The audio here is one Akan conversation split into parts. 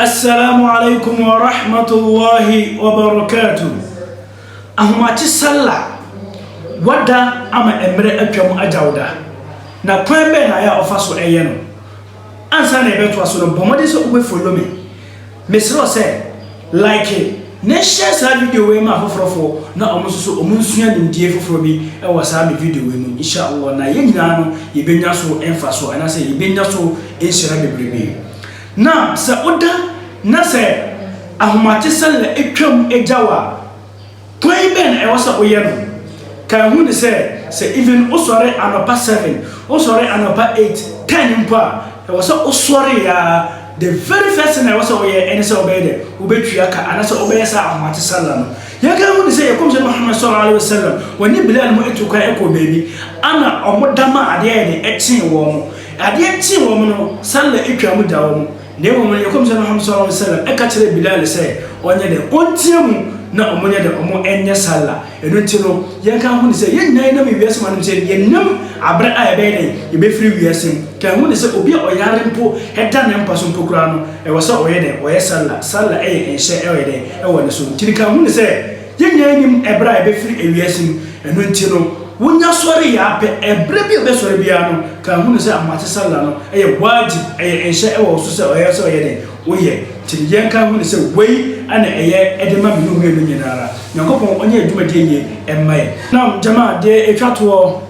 Assalam alaikum wa rahmatullahi wa barakatuh. Ahomakye Sallah, wada ama mmerɛ atwam agyawda, na kwan bɛn na ayɛ a ɔfa so ɛyɛ no? Ansa na yɛbɛtoa so no, bɔ mmɔden sɛ wobɛ follow me. Mesrɛ wo sɛ, like na share saa video wei ma afoforɔfoɔ na wɔn nso so wɔn nsua nimdeɛ foforɔ bi wɔ saa me video wei mu, inshallah, na yɛn nyinaa no yɛbɛnya so mfasoɔ anaasɛ yɛbɛnya so nhyira bebrebe. Na sɛ woda na sɛ ahomatesɛre twam gya wo a, kwan bɛn na ɛwɔ sɛ woyɛ no? Kae hu no sɛ, sɛ even wosɔre anɔpa seven, wosɔre anɔpa eight, ten mpo a, ɛwɔ sɛ wosɔre ara, the very first thing a ɛwɔ sɛ woyɛ ne sɛ wobɛyɛ dɛ, wobɛtua ka anaasɛ wobɛyɛ saa ahomatesɛre no. Yɛnkae hu no sɛ, yɛn Kɔmhyɛni Muhammad sallallahu alaihi wa sallam, wɔne Bilal mu tu kwan kɔɔ baabi, ɛna wɔda maa adeɛ ayɛ den kyee wɔn. Adeɛ kyee wɔn no, sallah twaa mu daa wɔn, na mmom yɛn Nkɔmhyɛ no Muhammad sallallahu alaihi wa sallam ka kyerɛɛ Bilal sɛ ɔnyɛ dɛn? Ɔnteɛ mu na wɔn nyɛ dɛn? Wɔn nyɛ sallah. Ɛno nti no, yɛn ka ho ne sɛ yɛn nyinaa yɛ nam wiase mu anom sɛ yɛn nam aberɛ a yɛbɛyɛ dɛn? Yɛbɛfiri wiase mu. Ka ho ne sɛ obi a ɔyare mpo da ne mpa so mpo koraa no, ɛwɔ sɛ ɔyɛ dɛn? Ɔyɛ sallah. Sallah yɛ nhyɛ ɛwɔ yɛ dɛn? Ɛwɔ ne so. Ntini ka ho ne sɛ. Yɛn nyinaa nnim ɛberɛ a yɛbɛfiri ewiase mu, ɛno nti no, wonya sɔre yɛ ara pɛ, ɛberɛ bi a wobɛsɔre biara no, kan hunu sɛ amoate sallah no yɛ waajib, ɛyɛ nhyɛ wɔ wo so sɛ ɛyɛ sɛ woyɛ dɛn? Woyɛ. Nti no yɛn kan hunu sɛ wei na ɛyɛ de ma me ne wo mmienu nyina ara. Nyankopɔn ɔnyɛ yɛn dwumadie yie mma yɛn. Naam jamaa, deɛ ɛtwa toɔ,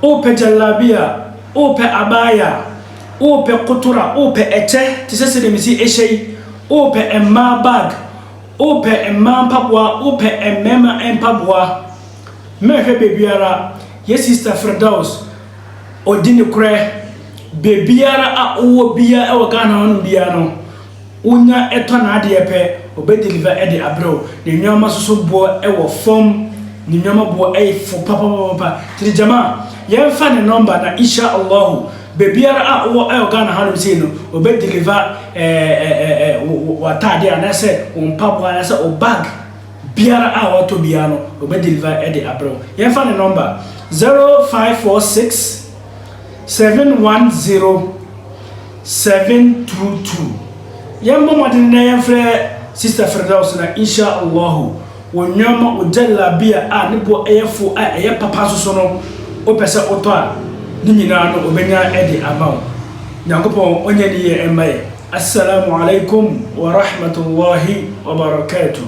wopɛ jallabiya, wopɛ abaya, wopɛ kotora, wopɛ ɛkyɛ te sɛ sɛdeɛ mesi ɛhyɛ yi, wopɛ mmaa bag, Wopɛ mmaa mpaboa, wopɛ mmarima mpaboa, mɛhwɛ baabiara. Yɛ sista Firdaus, ɔdi nokorɛ. Baabiara a wowɔ biara wɔ Ghana hɔ nom biara no, wonya tɔ n'adeɛ pɛ, ɔbɛ deliver de abrɛ wo. Ne nnoɔma nso so boɔ wɔ fam, ne nnoɔma boɔ yɛ fo papapapapa. Nti Jamaa, yɛmfa ne number na Insha Allahu, Baabiara a wowɔ ɛwɔ Ghana hanom sei no, wɔbɛ deliver ɛɛɛɛɛ w'ataadeɛ anaasɛ wo mpaboa anaasɛ wo bag biara a wɔatɔ biara no wɔbɛ deliver ɛde abrɛ wo. Yɛmfa ne number, zero five four six seven one zero seven two two. Yɛmmɔ mmɔden na yɛmfrɛ Sister Firdaus na Insha Allahu Wɔ nneɛma wɔ jallabiya a ne boɔ yɛ fo a ɛyɛ papa nso so no, wopɛ sɛ wotɔ a, ne nyinaa no wɔbɛnya de ama wo. Nyankopɔn ɔnyɛ ne yie mma yɛn. As-salaamu alaikum wa rahmatullaahi wa barakaatuh.